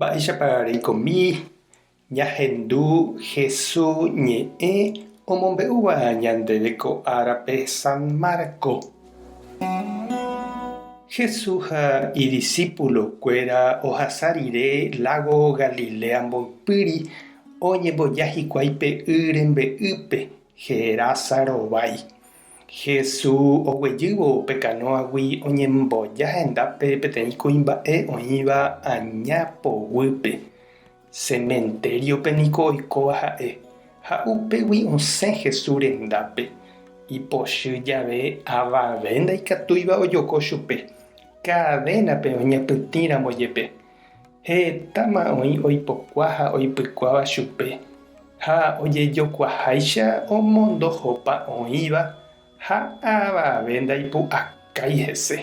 Mba'éichapa reikomi ñahendu Jesús ñe'ẽ omombe'úva ñandéve ko árape San Marcos? Jesús ha idisípulokuéra ohasa rire lágo Galilea mboypýri oñemboja hikuái pe y rembe'ýpe Gerasa rovái. Jesús oguejývo pe kanóagui oñemboja hendápe peteĩ kuimba'e oĩva aña poguýpe. Sementériope niko oikóva ha'e, ha upégui osẽ Jesús rendápe. Ipochy jave avave ndaikatúiva ojoko chupe, kadénape oñapytĩramo jepe. Hetáma oĩ oipokua ha oipykuáva chupe, ha ojejokuaháicha omondohopa oĩva ha avave ndaipu'akái hese.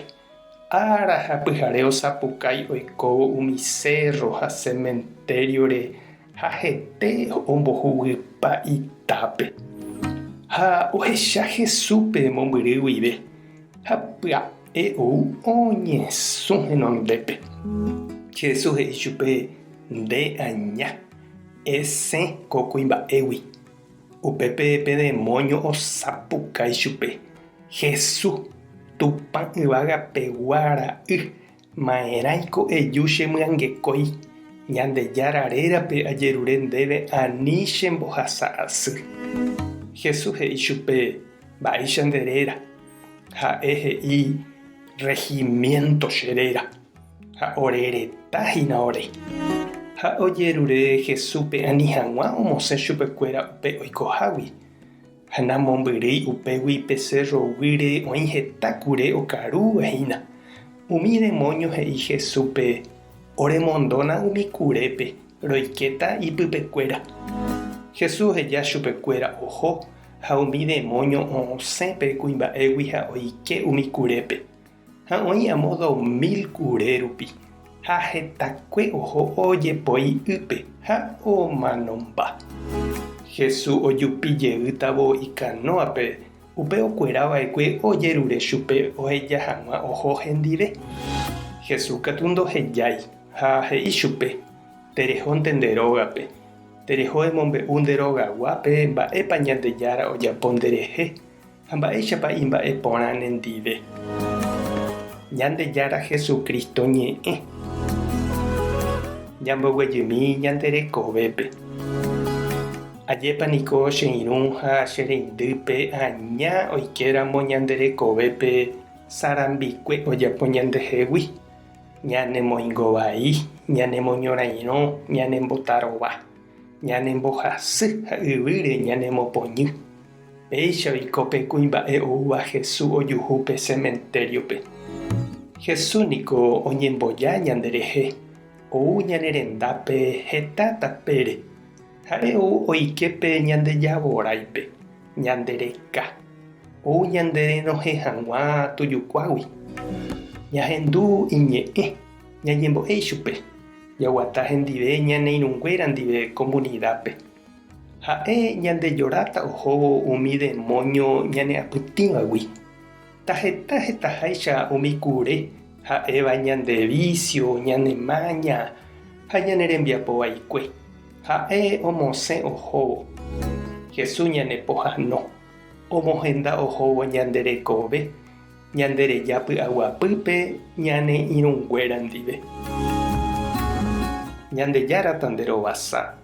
Ára ha pyhare osapukái oikóvo umi sérro ha sementério-re Ha hete ombohuguýpa itápe, ha ohecha Jesúspe mombyry guive, ha pya'e ou oñesũ henondépe. Jesús he'i chupe, Nde aña, esẽ ko kuimba'égui. Upépe pe demóño osapukái chupe, Jesús, Tupã Yvagapegua Ra'y, Ma'erãiko eju che myangekói Ñandejára rérape ajerure ndéve ani che mbohasa asy. Jesús he'i chupe, Mba'éicha nde réra. Ha'e he'i, Regimiento che réra. Ha ore reta hína ore. Ha ojerure Jesúspe ani hag̃ua omosẽ chupekuéra upe oikohágui. Ha namombyrýi upégui pe sérro guýre oĩ heta kure okaru hína. Umi demónio he'i Jesúspe, Oremondóna umi kurépe, roikéta ipypekuéra. Jesús oheja chupekuéra oho, ha umi demónio o'osẽ pe kuimba'égui ha oike umi kurépe. Ha oĩ amo dos mil kure rupi, ha hetakue oho ojepoi'ýpe ha omanomba. Jesús ojupi jeýtavo ikanóape, upe okuera va'ekue ojerure chupe oheja hag̃ua oho hendive. Jesús katu ndohejái, ha he'i chupe, Terehónte nde rógape. Tereho emombe'u nde rogaguápe mba'épa Ñandejára ojapo nderehe. Ha mba'éichapa imba'e porã nendive Ñandejára Jesucristo ñe'ẽ ñamboguejymi ñande rekovépe. Ajépa niko che irũ ha che reindýpe aña oikéramo ñande rekovépe sarambikue ojapo ñandehegui, ñanemoingo vai, ñanemoñorairõ, ñanembotarova, ñanembohasy ha yvýre ñanemopoñy. Péichaviko pe kuimba'e oúva Jesús ojuhu pe sementériope. Jesús niko oñemboja ñanderehe, ou ñane rendápe heta tapére. Ha'e ou oike pe Ñandejavoraipe, ñande reka, ou ñanderenohẽ hag̃ua Tujukuágui. Ñahendu iñe'ẽ, ñañembo'e ichupe, jaguata hendive ñane irũnguéra ndive komunidápe. Ha'e ñandejoráta ohóvo umi demóño ñane'apytĩvagui. Taheta hetaháicha umi kure ha'éva ñande vísio, ñane máña ha ñane rembiapo vaikue. Ha'e omosẽ ohóvo. Jesús ñane pohano. Omohenda ohóvo ñande rekove, ñande reja py'aguapýpe ñane irũnguéra ndive. Ñandejára tanderovasa.